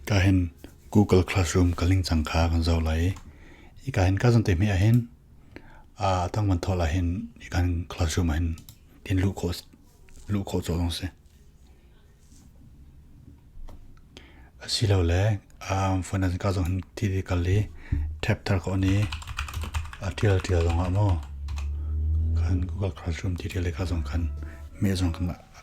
Ka hin Google Classroom ka ling cang kha kan zoh lai i, ika hin ka zan te hme ah hin aa dang van thawh lah hin ikan classroom ah hin in luh khawh luh khawh cawlh ding si. Asilole phone ah ka zong hin thi thi kal i tab thar khawh ni tial tial zong ah maw kan Google Classroom ti tial i ka zong kan me zong kan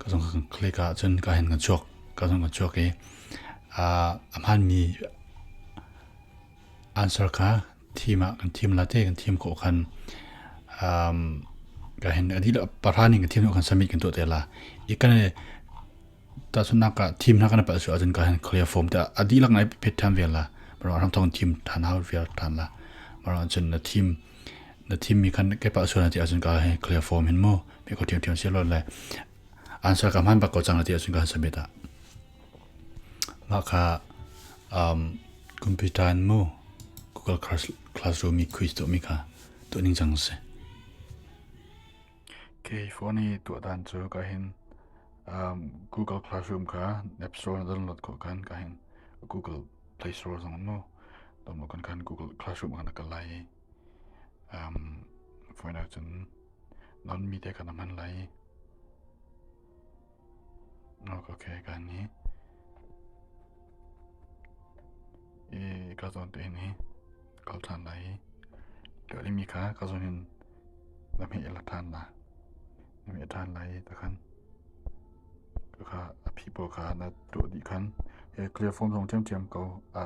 ka zong ka kle ka cun ka hen ka chuak ka zong ka chuak i a hman mi answer ka thim ah kan thim la te kan thim ko khan um ka hen adi la parani kan thim kan submit kan to te la ikan tahsunnak ah team hna kan pal su ahcun ka hin clear form ta a dihlak ngai phet than vel la mara ram thong team than ha vel than la mara chun na team na team mi kan ke pa su na ti ahcun ka hin clear form hin mo me ko team team se lo le answer ka man ba ko chang na ti ahcun ka submit ta ma kha um computer mo google classroom mi quiz to mi kha to ning chang se Kei phone i tuahdan cu ka hin Google Classroom kha App Store na download khawh khan ka hin Google Play Store zong mu download khan khan Google Classroom khan a kal lai i faina cun non mi te khan a hman lai i ok kan ni i ka zawn te hin hi ka uk ṭhan lai i ka oihmi kha ka zawn in na hmeh la ṭhan na na hmeh ṭhan lai i takhan ka kha a phi pawl kha na tuah dih khan he clear form zong ṭhiamṭhiam ko a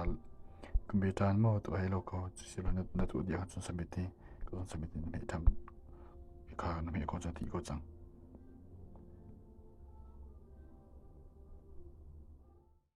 ka be ṭhan maw tu hai lo ko sibel na na tuah dih ahcun submit i ka zawn submit i na hmeh ṭhan kha na hmeh ko cang ti ko cang